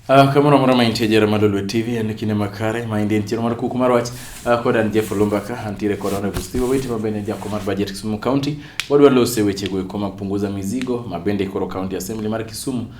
Uh, kamoro amora ma intie jera madolwe tv en kinde makare ma indie ntiere mar kuku mar wach uh, ah, kod an jeff lumbaka antiere kod honorable steve owiti ma bende jako mar budget kisumu county wadwa lose wechego eko mapunguza mizigo ma bende koro county assembly mar kisumu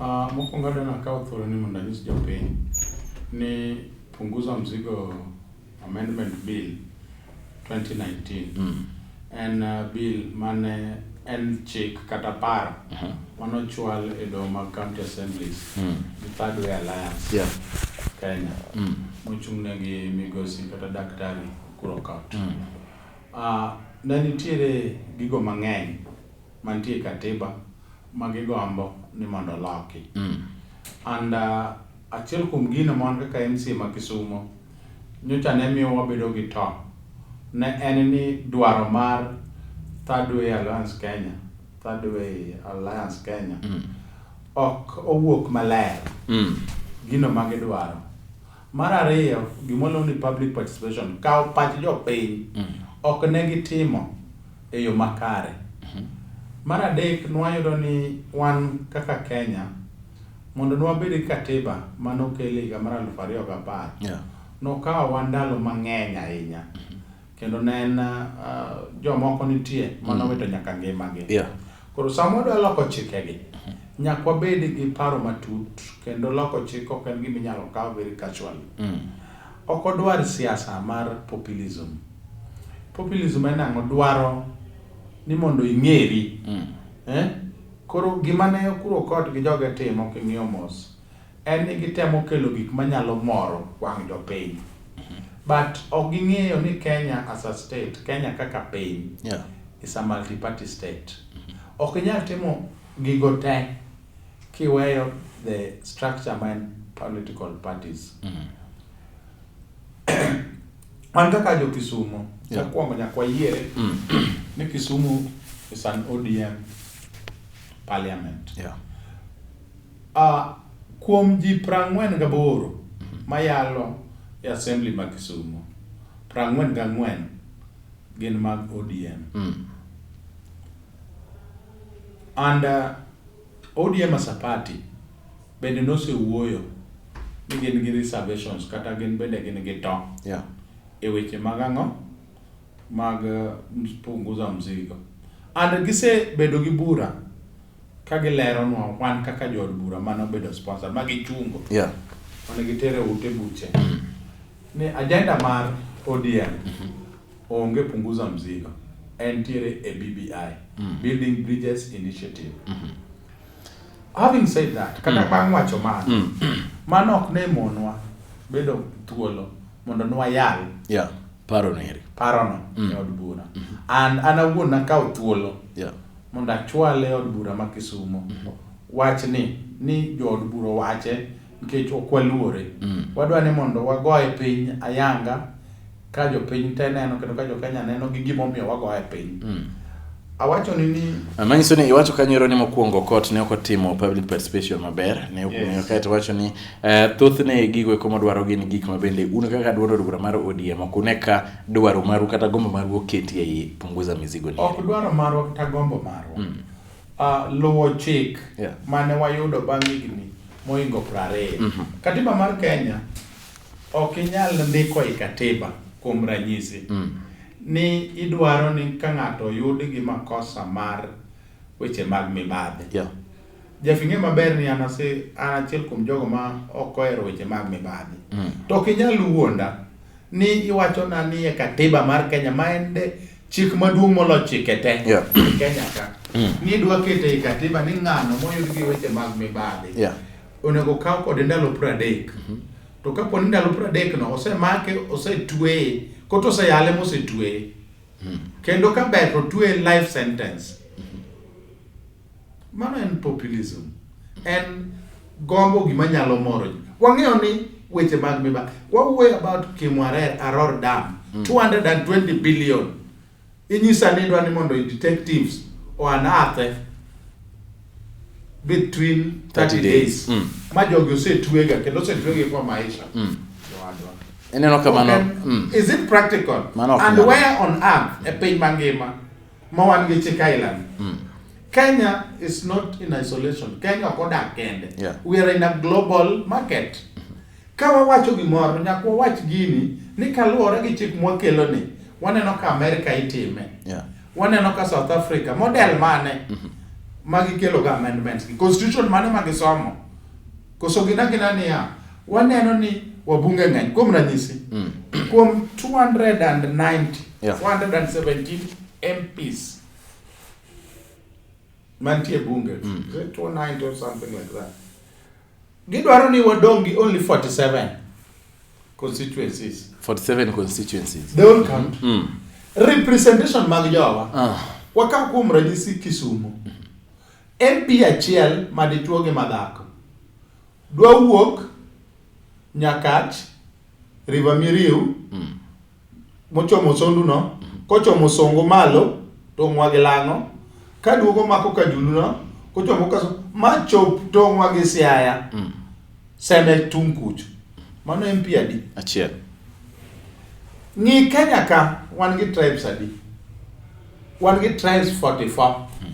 Uh, mokwongo adwa nakawo thuolo ni mondo anyis jopiny ni punguza mzigo amendment bill 2019 mm. en uh, bill mane en chik kata paro uh -huh. manochwal e doho mag county assemblies mm. the third way alliance yeah. kenya mm. mochung'negi migosi kata daktari kuro county mm. uh, ne nitiere gigo mang'eny mantie katiba ma gigombo ni mondo oloki. Mm. And uh, achiel kuom gino mon kaka MC ma Kisumo nyocha ne miyo wabedo gi to ne en ni dwaro mar Third Way Alliance Kenya, Third Way Alliance Kenya mm. ok owuok maler mm. gino ma gidwaro. Mar ariyo, gima waluongo ni public participation, kawo pach jopiny, ok ne gitimo e yo makare. Mar adek, nwayudo ni wan kaka Kenya, mondo nwabed gi katiba mane okel e higa mar aluf ariyo gi apar, Yeah. nokawowa ndalo mang'eny ahinya kendo ne en uh, jomoko nitie ma nowito nyaka ngimagi Yeah. koro sama wadwa loko chikegi nyaka wabed gi paro matut kendo loko chik ok en gima inyalo kaw very casually ok odwar siasa mar populism populism en ang'o dwaro ni mondo ing'eri eh? koro gima ne okuro kot gi joge timo king'iyo mos en ni gitemo kelo gik manyalo moro wang' jopiny. But ok ging'eyo ni Kenya as a state, Kenya kaka piny Yeah. is a multi-party state. Ok inyal timo gigo te kiweyo the structure ma en political parties. Wan kaka jo Kisumo, Yeah. mokwongo nyaka wayiere ni Kisumu is an ODM parliament. Yeah. Kuom ji prang'wen gaboro mayalo e Assembly ma Kisumo, prang'wen gang'wen gin mag ODM. And ODM as a party bende nosewuoyo ni gin gi reservations kata gin bende gin gi to e weche mag ang'o, mag punguza mzigo. And gisebedo gi bura Ka gileronwa wan kaka jood bura mane obedo sponsor ma gichungo Yeah. mane gitere ute buche ni ajenda mar ODM onge punguza mzigo entiere e BBI Building Bridges Initiative having said that kata bang' wacho mano mano ok ne monwa bedo thuolo mondo nwayal Yeah. Paro neri. parono e od bura and an awuon nakawo thuolo Yeah. mondo achwale e od bura ma Kisumo mm. wachni ni jood bura owache nikech ok waluore mm. wadwa ni mondo wagoye piny ayanga ka jopiny te neno kendo ka jokenya neno gi gimomiyo wagoye piny mm. awacho ni ni manyiso ni iwacho kanyero ni mokwongo kot ne ok otimo public participation maber ne okunyo yes. kaeto wacho ni uh, thothne gigo eko madwaro gin gik mabende un kaka dwaro bura mar ODM ok une ka dwaro maru kata gombo maru oketi ei punguza mizigo ni ok dwaro marwa kata gombo marwa mm. uh, luwo chik yeah. mane wayudo bang' higni moingo prariyo mm -hmm. katiba mar kenya ok inyal ndiko i katiba kuom ranyisi mm. ni idwaro ni ka ng'ato oyud gi makosa mar weche mag mibadhi yeah. jafing'e maber ni an achiel kuom jogo ma ok ohero weche mag mibadhi mm. to ok inyal wuonda ni iwachona ni e katiba mar Kenya ma en de chik maduong' molo chike te yeah. Kenya ka mm. ni dwa kete e katiba ni ng'ano moyud gi weche mag mibadhi yeah. onego kaw kode ndalo pradek mm -hmm. to kapo ni ndalo pradek no osemake osetweye koto oseyale mosetweye mm. kendo ka ber to tweye life sentence mm -hmm. Mano en populism. En gombo gima nyalo moro ji. Wang'eyo ni weche mag miba. Wawuoyo about Kimwarer Aror Dam. 220 billion. Inyisa ni idwa ni mondo i detectives o unearth between 30 30 days. days. Ma jogi osetwega kendo osetwege kwa maisha. Jowadwa. Ineno ka mano Okay. mm. Is it practical? Mano ok And nyal. where on earth e piny mangima ma wan gi chik ailani mm. Kenya is not in isolation. Kenya ok odak kende. Yeah. We are in a global market. Ka wawacho gimoro nyaka wawach gini ni kaluwore gi chik mwakelo ni waneno ka Amerika itime. Yeah. Waneno ka South Africa model mane mm -hmm. ma gikelo ga amendments gi constitution mane ma gisomo Koso gin agina niya, waneno ni wabunge ng'eny, kuom ranyisi, mm. kuom 290, yeah. 417 MPs mantie bunge, mm. 290 or something like that. Gidwaro ni wadong gi only 47 constituencies. 47 constituencies. The whole country. Mm. Representation mag jowa. Uh. Ah. Wakaw kuom ranyisi Kisumu. Mm. MP achiel ma dichwo gi ma dhako dwa wuok Nyakach, River Miriu, mm. mochomo Sondu no, mm. kochomo Songo malo tong'wa gi Lang'o, ka duogo mako Kajulu no, kochomo ka ma chop tong'wa gi Siaya. Mm. Seme tung' kucho. Mano MP adi? Achiel. Ng'i Kenya ka wan gi tribes adi? Wan gi tribes 44. Hmm.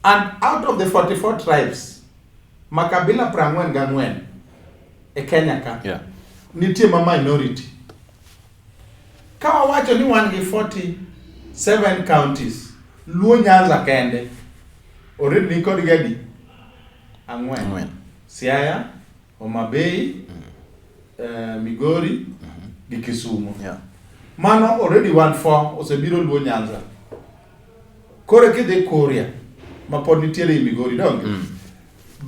And out of the 44 tribes, makabila prang'wen gang'wen e Kenya ka. Yeah. Nitie ma minority. Ka wawacho ni wan gi 47 counties, Luo Nyanza kende, already ni kod gadi? Ang'wen. Ang'wen. Siaya, Homa Bay, mm. uh, Migori mm -hmm. gi Kisumu yeah. Mano already one four osebiro Luo Nyanza koro kidhi Kuria ma pod nitiere i Migori donge mm.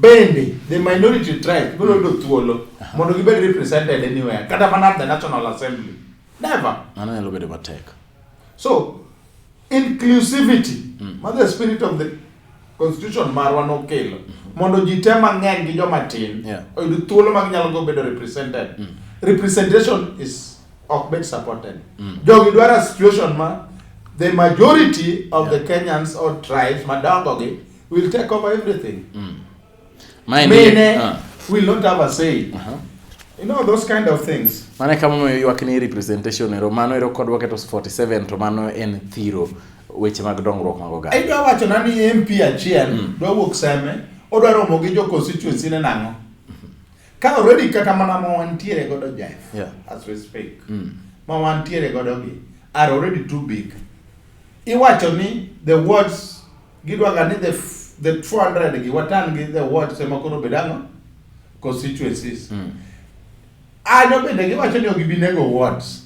bende the minority tribe biro yudo mm. thuolo uh-huh. mondo gibed represented anywhere kata mana the National Assembly never mano nyalo bedo matek so Inclusivity mm. ma the spirit of the constitution marwa nokelo mm-hmm. mondo ji te mang'eny gi joma tin oyud thuolo mag nyalo go bedo represented. Mm. Representation is ok bed supported. Mm. Jogi dwaro situation ma the majority of yeah. the Kenyans or tribes madongo gi will take over everything. Mm. Mine uh. will not have a say. Uh -huh. You know those kind of things. Mane kama mo ywak ni representation ero mano ero kodwa keto 47 to mano en thiro weche mag dongruok mag oganda. Idwa wacho na ni MP achiel mm. dwa wuok seme odwa romo gi jo constituency ne nango. Mm-hmm. Ka already kata mana mo wantiere godo Jeff. Yeah. As we speak. Mm. Ma wantiere godo gi are already too big. Iwacho ni the words Gidwaga ni the, the 400 gi watan gi the watch ema koro bed ang'o? Constituencies. Mm. Anyo bende giwacho ni ok gibi nego wards.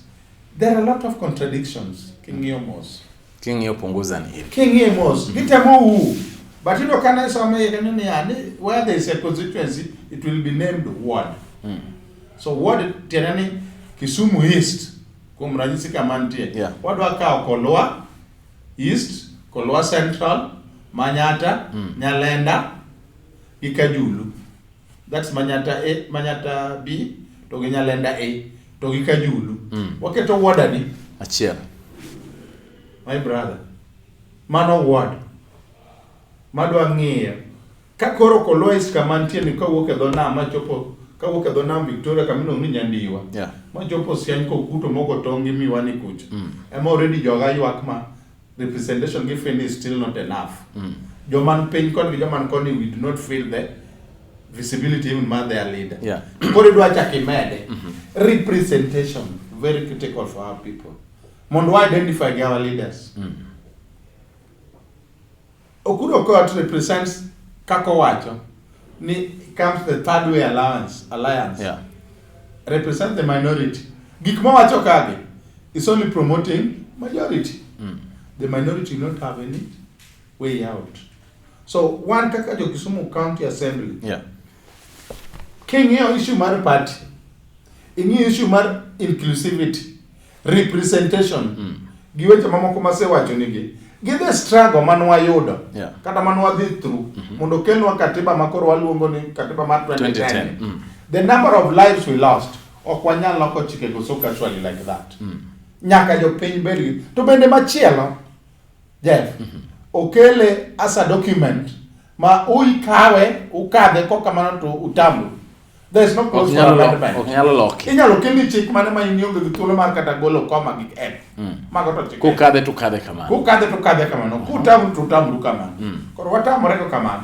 There are a lot of contradictions king'iyo mos. King'iyo punguza ni hili. King'iyo mos. Gitemo u. But you know, can I some where there is a constituency, it will be named ward. Mm. So ward tena ni Kisumu East kuom ranyisi kama nitie yeah. wadwa kawo Kolwa East, Kolwa Central, Manyata, mm. Nyalenda gi Kajulu. That's Manyata A, Manyata B to gi Nyalenda A to gi Kajulu. Mm. Waketo ward adi? Achiel. My brother. Mano ward. Madwa ng'iyo Ka koro Kolois kama nitie ni kawuok e dho nam machopo kawuok e dho nam Victoria kama iluongo ni Nyandiwa yeah. machopo Siany kokuto mogo tong' gi miwani kucha mm. ema already joga ywak ma representation gi feel is still not enough mm. joman piny koni gi joman koni we do not feel the visibility even man their leader yeah. koro idwa chak imede mm -hmm. representation very critical for our people mondo wa identify gi our leaders mm. Okudo Okot represents kaka owacho ni comes the third way allowance, alliance yeah. represent the minority gik mowacho kagi is only promoting majority mm. the minority not have any way out so one kaka jo Kisumu County Assembly yeah. King'iyo issue mar party, ing'iyo issue mar inclusivity, representation mm. gi weche mamoko masewacho nigi gi the struggle man wayudo yeah. kata man wadhi through mm -hmm. mondo kelnwa katiba makoro waluongo ni katiba mar 2010, 2010. Mm. the number of lives we lost ok wanyal loko chikego so casually like that mm. nyaka jopiny bedgi to bende machielo jeff mm -hmm. okele as a document ma uikawe ukadhe ko kamano to utambu there is no Ok cause for nyalo lo- amendment ok nyalo loki. inyalo kelni chik mane ma in ionge gi thuolo mar kata golo koma gi en Mm. mago to chik Kukadhe to kadhe kamano. kukadhe to kadhe kamano kutamru to utamru kamano Mm. koro watamore go kamano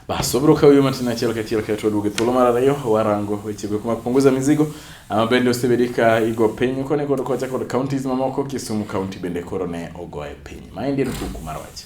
Bas, wabiro kawo yo matin achiel kachiel kae to waduog e thuolo mar ariyo warango wechego mag punguza mizigo ama bende osebedi ka igo piny koni kod kocha kod counties mamoko Kisumu county bende koro ne ogoye piny. Maendi en kuku mar wach.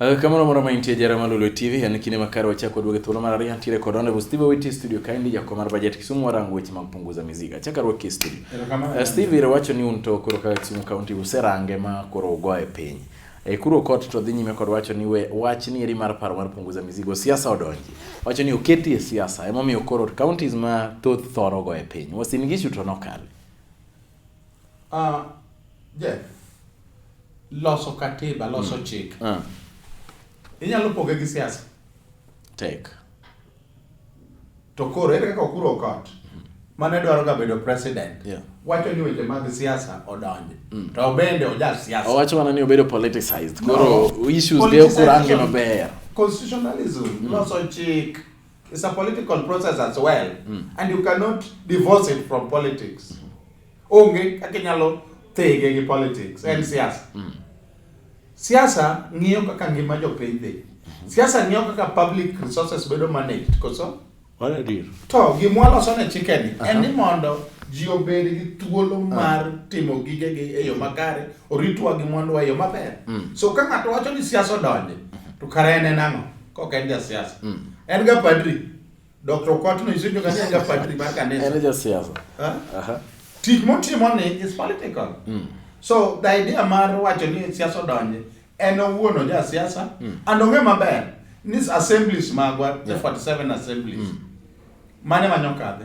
Eh, kamano moro maintie jara ma Lulu TV en kinde makare wachako waduoge thuolo mar ariyo ntiere kod Honorable Steve Owiti studio kaendi jakom mar budget Kisumu warango weche mag punguza mizigo. Achaka ruoki studio. Uh, Steve iro wacho ni un to koro kaka Kisumu County userange ma koro ugo e piny. E kuro kot to dhi nyime kod wacho ni we wach ni eri mar paro mar punguza mizigo siasa odonji. Wacho ni oketi e siasa ema miyo koro counties ma thoth thoro go e piny. Wasin gishu to nokale. Ah, uh, Jeff, loso katiba loso mm. chik ah. inyalo poge gi siasa tek to koro ere kaka okuro kot mane dwaro ga bedo president yeah. wacho ni weche mag siasa odonje mm. to bende oja siasa owacho mana ni obedo politicized koro no. issues de okurange maber constitutionalism mm. loso chik It's a political process as well mm. and you cannot divorce it from politics. Onge kaka inyalo thege gi politics en mm. siasa. Mm. Siasa ng'iyo kaka ngima jopiny dhi. Mm-hmm. Siasa ng'iyo kaka public resources bedo managed koso? Mano adier. To gimwa loso ne chikeni en ni mondo ji obed gi thuolo ah. mar timo gigegi e yo mm. makare oritwa gi mwanduwa e yo maber mm. so ka ng'ato wacho ni siasa odonje mm-hmm. to kare en en ang'o kok en jasiasa mm. en ga padri dr okwatno isejo kani en ga padri mar kanisa en jasiasa tich motimo ni is political mm. so the idea mar wacho ni siasa odonje en owuon oja siasa mm. and ong'e maber ni assemblies magwa yeah. 47 assemblies mm. mane manyo kadhe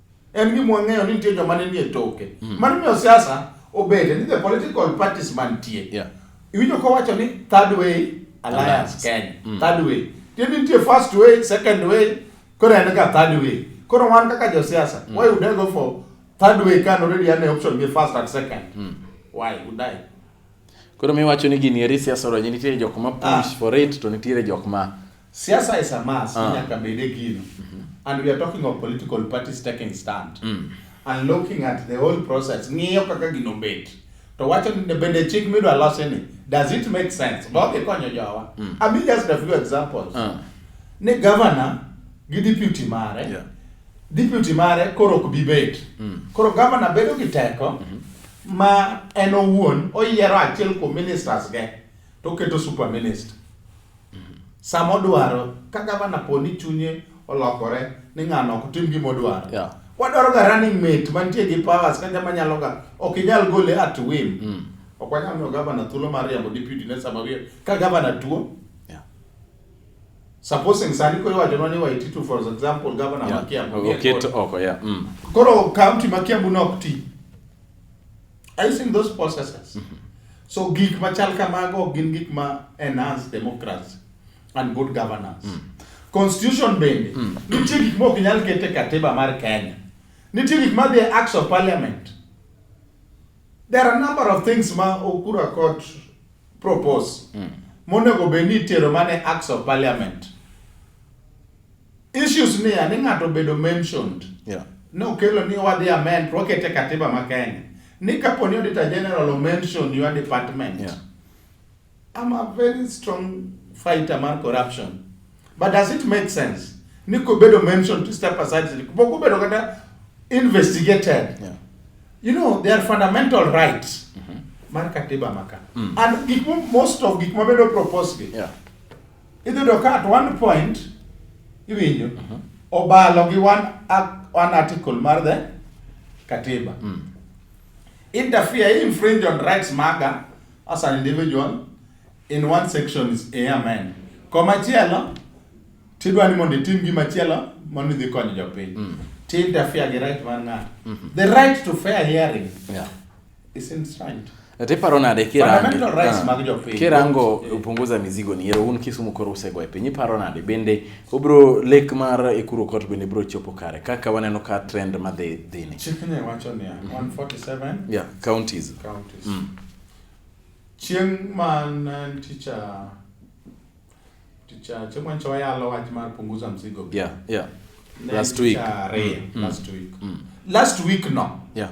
En gima wang'eyo ni nitie joma ne nie toke. Mm. Mano miyo siasa obede ni the political parties mantie. Yeah. Iwinjo kowacho ni third way alliance Kenya. Mm. Third way. Tiende nitie first way, second way, koro en ka third way. Koro wan kaka josiasa, mm. why would I go for third way can already an option be first and second? Mm. Why would I? Koro miwacho ni gini eri siasa oro, nitie jok ma push ah. for it to nitiere jok ma Siasa is a mass, Ah. nyaka bed e gino. And we are talking of political parties taking stand. And looking at the whole process, ng'iyo kaka gino bet. To wacho ni ne bende chik midwa losi ni, does it make sense? Ba ok ikonyo jowa. I mean just a few examples. Ah. Ni governor gi deputy mare, Yeah. deputy mare koro ok bi bet. Koro governor bedo gi teko ma en owuon oyiero achiel kuom ministers ge to oketo super minister sama odwaro ka gavana po ni chunye olokore ni ng'ano ok tim gima odwaro yeah. wadwaro ga running mate mantie gi powers ka jama nyalo ga ok inyal gole at whim mm. ok wanyal miyo gavana thuolo mar riambo deputy ne sama wiye ka gavana tuo yeah. supposing sani koro iwachonwa ni waititu for example gavana yeah. ma kiambu oketo oko yeah. mm. koro county ma kiambu ne ok ti Are you seeing those processes? Mm-hmm. So gik machal kamago gin gik ma enhance democracy and good governance. Mm. Constitution bende mm. nitie gik ma ok nyal kete katiba mar Kenya. Nitie gik ma dhi acts of parliament. There are a number of things ma Okura court propose mm. monego bed ni itero mana acts of parliament. Issues ni ani ng'ato bedo mentioned. Yeah. Nokelo ni wadhi amend, wakete katiba ma Kenya. Ni kapo ni Auditor General o mention your department. Yeah. I'm a very strong fighter mar corruption. But does it make sense? Ni kubedo mentioned to step aside, kubedo kata investigated. Yeah. You know, they are fundamental rights. Mm -hmm. Mar katiba maka. Mm. And most of gik mabedo propose gi. Yeah Idhiyudo ka at one point iwinjo mhm. obalo gi one, one article mar the katiba mm. interfere infringe on rights maga as an individual in one section is a amen komachielo tidwa ni mondo itim gima chielo mondo idhi konyo jopiny mm. ti interfere gi right mar ng'ato mm -hmm. the right to fair hearing yeah. Ati paro nade kirango kirango eh. upunguza mizigo ni yero un Kisumu koro usego e piny iparo nade bende obro lek mar Ekuru Court bende bro chopo kare kaka waneno ka trend ma dhi dhi ni chikne wacho ni 147 mhm. yeah counties counties mm. chieng man eh, ticha ticha chieng man chawa yalo wach mar punguza mzigo yeah yeah last week mm, mm. last week mm. last week last week no yeah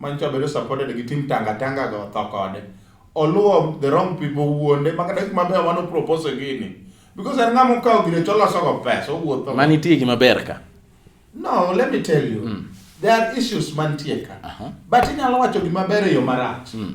manyicha obedo supported gi team tanga tanga go tho kode oluwo the wrong people wuonde ma kata kuma ber mano propose gini because en ng'ama okawo gire to loso go pesa owuotho mani tie gi maber ka no let me tell you mm. there are issues mantie ka uh -huh. but inyalo wacho gima ber e yo marach mm.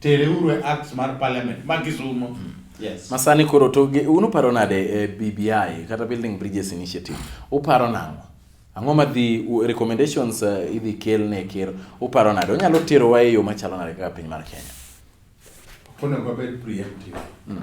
Tere uru e Acts mar Parliament ma Kisumo. Mm. Yes. Masani koro to unu paro nade e eh, BBI kata Building Bridges Initiative? Uparo nang'o? Ang'o ma dhi recommendations uh, idhi kel ne ker? Uparo nade? Onyalo tero wa e yo machalo nade kaka piny mar Kenya? Onego wabed preemptive. Mm.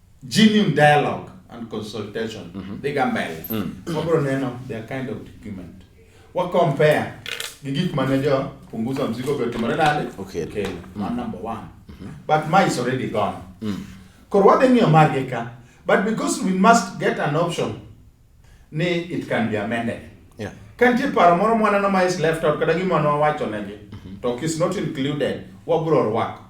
genuine dialogue and consultation mm -hmm. dhiga mbele mm. wabiro neno their kind of document wa compare gi gik mane jo punguza mzigo be otimore nade okay. okay. mm. man number one mm -hmm. but my is already gone mm. koro wadhi ng'iyo margi ka but because we must get an option ni it can be amended yeah. ka nitie paro moro mwaneno ma is left out kata gima nwawacho negi mm -hmm. to is not included wabro rwako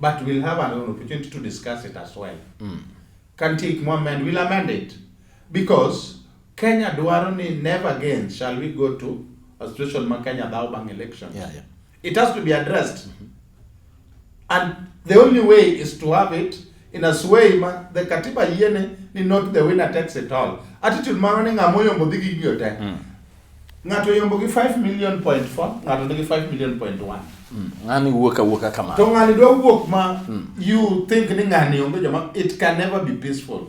but we'll have an opportunity to discuss it as well mm. ka nitie gik mwamend we'll amend it because kenya dwaro ni never again shall we go to a situation ma kenya dhaw bang election yeah, yeah. It has to be addressed. Mm-hmm. And the only way is to have it in a sway ma the katiba yene ni not the winner takes it all. Attitude mano ni ng'amo yombo dhi gi giyo te. Mm. Ng'ato yombo gi 5 million point 4, ng'ato nigi 5 million point 1. Mm. Ng'ani wuok awuoka kamano. To ng'ani dwa wuok ma mm. you think ni ng'ani onge joma it can never be peaceful.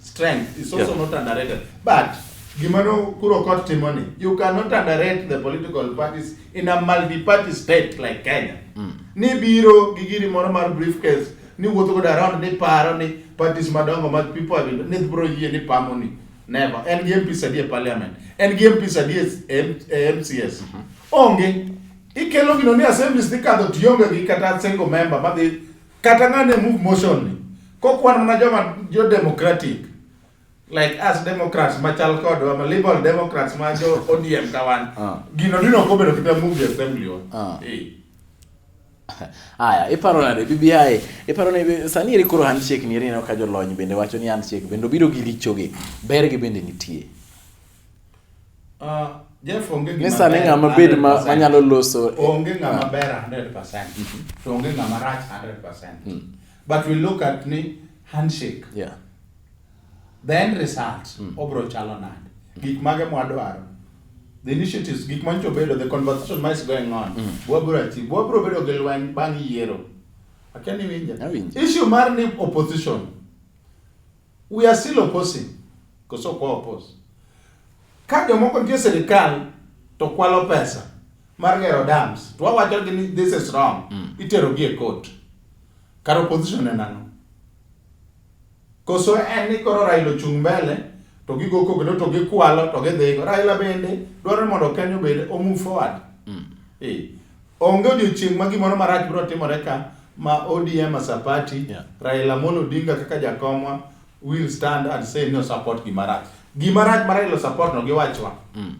strength is also yeah. not underrated but gimano kuro kot timo ni you cannot underrate the political parties in a multi-party state like kenya mm. ni biro gi giri moro mar briefcase ni wuotho godo around ni paro ni parties madongo mag people have ni bro yie ni pamo ni never en gi mp sadi e parliament en gi mp sadi e mcs mm -hmm. onge ikelo gino ni assemblies dhi kadho tionge gi kata single member madhi Kata ng'ane move motion ni, kokwan mana joma jo democratic, like us democrats machal kodwa, ma liberal democrats ma jo ODM kawan, Ah. gino dino ok obedo kata move the assembly wa. Ah. Eh. Aya, iparo nade BBI? Iparo ni sani eri koro handshake ni eri ineno ka jolony bende wacho ni handshake bende obiro gi richoge. Bergi bende nitie. Uh, Jeff onge gima. Nisa ni ng'ama bed ma manyalo loso. Onge ng'ama ah. ber 100%. Mhm. To onge ng'ama rach 100%. Mm. But we look at ni handshake. Yeah. The end result mm. obro chalo nade? Gik mage mwadwaro? the initiatives gik ma nyicho bedo the conversation ma is going on mm. wabro ati wabro bedo gi lweny bang' yiero akia ni winja issue mar ni opposition We are still opposing. Koso kwa oppose. Ka jomoko nitie sirikal to kwalo pesa mar gero dams to wawacho gi ni this is wrong mm. itero gi e court kar opposition en ang'o koso en ni koro Raila ochung' mbele to gigo kogno to gikwalo to gidhigo Raila bende dwaro mondo Kenya obed o move forward mm. e. Onge odiochieng' ma gimoro marach biro timore ka ma ODM as a party, yeah. Raila Amolo Odinga kaka jakomwa will stand and say no support gima rach. Gima rach ma Raila support no giwachwa. Mm.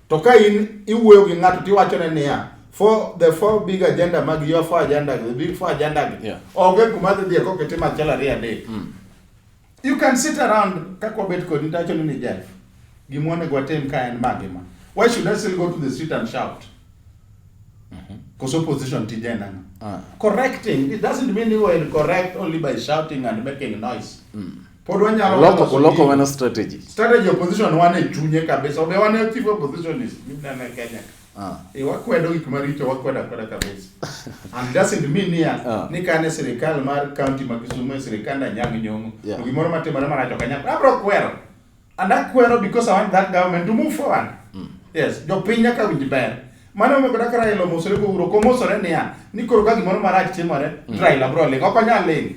To ka in iwuoyo gi ng'ato tiwacho ne niya, for the four big agenda mag your four agenda, the big four agenda. Yeah. Onge kuma dhi dhiye kokete machielo ariyo adek. Mm. You can sit around kaka wabet kodi nitacho ni Jeff. Gima onego watim ka en ma gima. Why should I still go to the street and shout? Mm-hmm. Because mm -hmm. opposition tije nanga. Uh. Ah. Correcting, it doesn't mean you are correct only by shouting and making noise. Mm. Pod wanyalo loko uloko wana strategy. Strategy opposition wane chunye kabisa. Obe wane chief oppositionist. Mimi na Kenya. Ah. E, wakwedo gik maricho wakwedo akweda kabisa. And doesn't mean niya ah. ni kane sirikal mar county ma Kisumu e sirikal na nyang nyongo. Yeah. To gimoro matimore marach ok anyal. Abro kwero. And I kwero because I want that government to move forward. Mm. Yes, jopiny nyaka winj ber. Mano omiyo kata Raila omosore go uro komosore niya ni koro ka gimoro marach timore mm. Raila bro ling ok onyal ling.